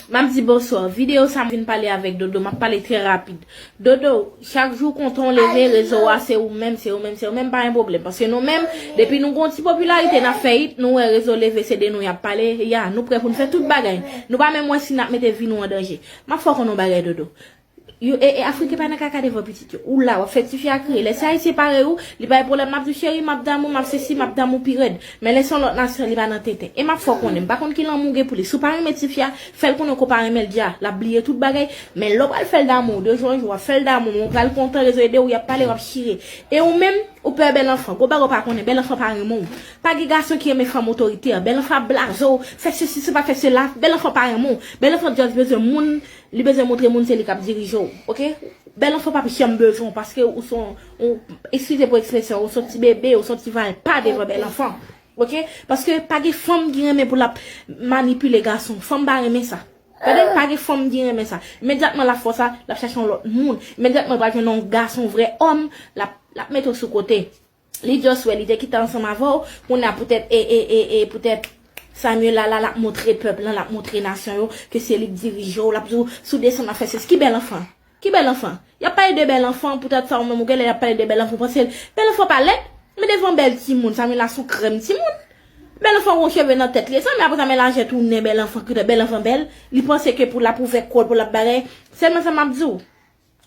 Map di bonsoir. Video sa m vin pale avek dodo map pale tre rapid. Dodo chak jou kontan w leve rezo wa se ou menm se ou menm se ou menm pa gen problem paske nou menm depi nou gon ti popularite nap fe it nou we rezo leve se de nou yap pale ya nou pre pou nou fe tout bagay nou pa menm we si nap mete vi nou an danje. Map fe w konnen yon bagay dodo Yo e e afriken pa nan kaka devan pitit yo. Ou la wap fè tifi a kriye. Lè se ayisyen parèy ou, li bay pwoblèm lap di cheri map damou, map sesi, map damou pi rèd. Men lè se yon lòt nasyon li pa nan tenten. E map fè w konnen, m pa konn ki lanmou w gen pou li. Si w pa renmen tifi a, fè l konnen w ko pa renmen l dja. Lap bliye tout bagay. Men lè w pral fè l damou, de jou an jou wap fè l damou, men ou pral kontan, rezo ede w, yap pale, wap chire. E ou menm, ou pè bèl anfan. Gwo bagay w pa konnen, bèl anfan pa renmen w. Pa gen gason ki renmen fanm otoritè. Bèl anfan ap blaze w, fè sesi, se pa fè sela. Bèl anfan pa renmen w. Bèl anfan just bezwen moun. Li bezwen moutre moun se li kap dirije w ok bèl anfan pap janm bezwen w paske ou son ou eskize pou ekspresyon an ou son ti bebe ou son ti valpa devan bèl anfan ok paske pa gen fanm ki renmen pou lap manipile gason fanm pa renmen sa tande pa gen fanm ki renmen sa imedyatman lap fè w sa lap chache yon lòt moun imedyatman li pral jwenn yon gason vrè òm lap lap mete w sou kote. Li just wè li te kite ansanm avèw kounya poutèt ee poutèt Samuella la lap moutre pèp lan lap moutre nasyon yo ke se li k dirijew lap diw sou desann wap fè sesi ki bèl anfan ki bèl anfan yap pale de bèl anfan poutèt sa ou menm ou genlè yap pale de bèl anfan ou pansel bèl anfan pa lèd men devan bèl timoun Samuella sou krèm timoun bèl anfan gon cheve nan tèt li e sa men aprè sa melaje tounen bèl anfan koutèt bèl anfan bèl li panse ke pou lap ouvè kol pou lap bagay sèlman sa map diw.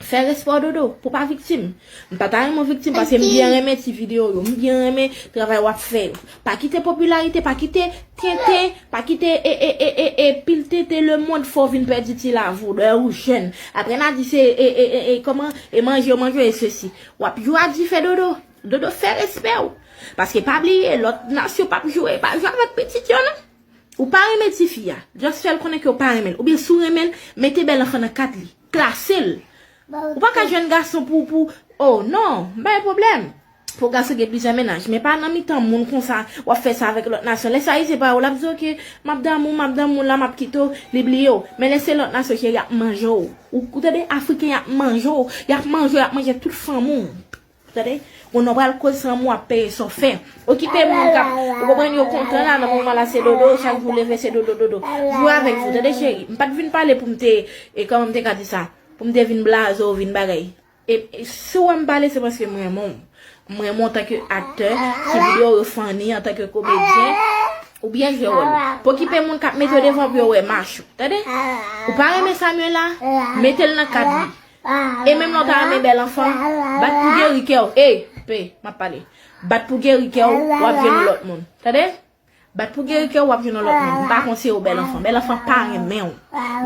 Fè respè w dodo, pou pa viktim. M pa ta renmen w viktim paske m byen renmen ti video w yo, m byen renmen travay w ap fè yo. Pa kite popilarite, pa kite tenten, pa kite e pil tenten lemond fè w vin pèdi ti lave w lè ou jèn. Aprè n a di se e kòman e manje yo manje e sesi. W ap jwe a dife dodo. Dodo fè respè w. Paske pa bliye lòt nasyon p ap jwe, pa jwe avèk pitit yo non. Ou pa renmen tifi a, just fè l konnen ke w pa renmen l. Oubyen si w renmen l, mete bèl anfan nan kat li. Klase l. Ou pa ka jwenn gason pou, pou, oh non, m pa gen pwoblèm. Pou gason gen plizyè mennaj, men pa nan mitan moun konsa, w ap fè sa avèk lòt nasyon. Lè se Ayisyen pa yo, l ap di w ok, m ap damou, m ap damou la, m ap kite w, li bliye w. Men lè se lòt nasyon, cheri, y ap manje w. Ou tande, Afriken y ap manje w, y ap manje w, y ap manje tout fanm ou. Tande Yon nonm pral koz san mou ap peye sa w fè Okipe moun kap Ou konprann yo kontan la nan moman la se dodo chak jou w leve se dodo dodo Jwe avèk jou tande cheri M pat vin pale pou m te e kòman m te ka di sa pou m te vin blaze w vin bagay e si w wè m pale se paske m renmen w M renmen w antanke aktè si videyo w yo funny antanke komedyen ou byen jwe wòl ou Pokipe moun kap mete w devan pou yo wè mach ou tande Ou pa renmen Samuella mete l nan kad li E menm lè w ta renmen bèl anfan, bat pou geri kè w. Ey! P, m ap pale. Bat pou geri kè w, w ap jwenn yon lòt moun. Tande! Bat pou geri kè w, w ap jwenn yon lòt moun. M pa konsiye w bèl anfan. Bèl anfan pa renmen w.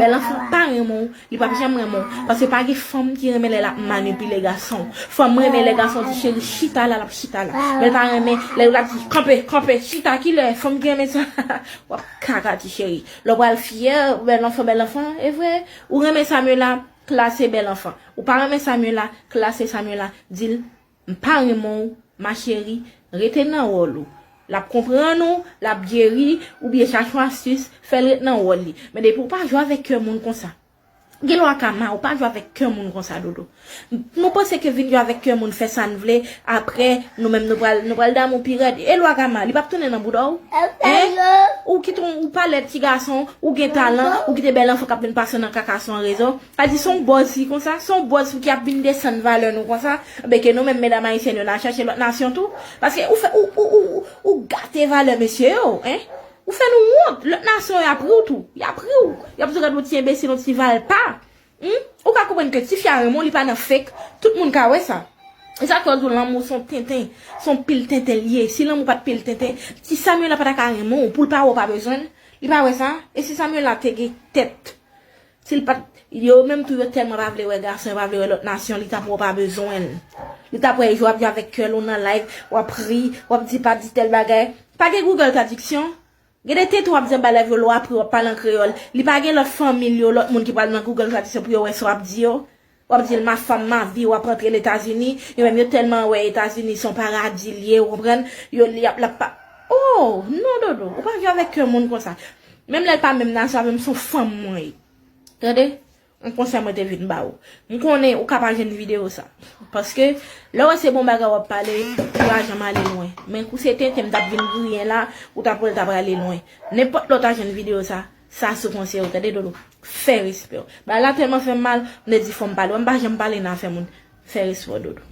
Bèl anfan pa renmen w. Li p ap janm renmen w. Paske pa gen fanm ki renmen lè l ap manipile gason. Fanm renmen lè gason di cheri chita la, l ap chita la. Men l pa renmen lè l ap di kanpe, kanpe, chita. Ki lè fanm ki renmen sa w ap kaka ti cheri. Lè w pral fyè, bèl anfan, bèl anfan. E vre, ou renmen sa men la. Klase bèl anfan. Ou pa renmen Samuella klase Samuella dil m pa renmen w ma chérie rete nan wòl ou lap konprann ou lap geri oubyen chache yon astis fèl ret nan wòl li men depi ou pa jwe avèk kè moun konsa gen lwa kama ou pa jwe avèk kè moun konsa dodo nou panse ke vin jwe avèk kè moun fè sa n vle Aprè nou menm nou pral nou pral damou pi rèd e lwa gama li pap tounen nan boudaw hein ou ki ton ou pa lèd ti gason ou gen talan ou kite bèl anfan kap vin pase nan kaka sou an rezo a di son bòz fi konsa son bòz fi ki ap vin desann valè nou konsa ben ke nou menm medam ayisyèn yo na chache lòt nasyon tou paske ou fè ou ou ou ou ou gate valè mesye yo hein ou fè nou wont lòt nasyon yap riw tou yap riw yap di w gad yon ti enbesil yon ti valpa Humm ou ka konprann ke tifi a renmen w li pa nan fake tout moun ka wè sa e sak fè yo di w lanmou son tenten son pil tenten li ye si lanmou pat pil tenten ti Samuella pata ka renmen w poul pa wè w pa bezwen l li pa wè sa e si Samuella te gen tèt sil pat yo menm tou yo tèlman pa vle wè gason yo pa vle wè lòt nasyon li tap wè w pa bezwen l li tap wè jou wap jwe avèk kèl ou nan live wap ri wap di pa di tèl bagay pa gen Google tradiksyon Gen de tenten wap di anba live yo lè w apre wap pale an kreyòl, li pa gen lòt fanmi l yo, lòt moun ki pral nan Google Traduction pou yo wè sa w ap di yo? Wap di l ma femme ma vie wap antre Letazini, yo menm yo tèlman wè Etazini se yon paradi l ye ou konprann, yo li ap lap pa Oh! non Dodo, ou pa viv avèk yon moun konsa. Menm lè l pa menm nasyon avè m se yon fanm mwen ye. Tande! Yon konsèy mwen te vin ba ou. M konnen ou ka pa jwenn videyo sa. Paske, lè w wè se bon bagay w ap pale, ou pa janm ale lwen. Men kou se tenten m t ap vin griyen la, ou t ap wè l ta prale lwen. Nenpòt lè w ta jwenn videyo sa, sa sou konsèy ou tande Dodo. Fè respè w. Bagay la tèlman fè m mal, m te di fò m pale. Wè m pa janm pale nan afè moun. Fè respè w Dodo.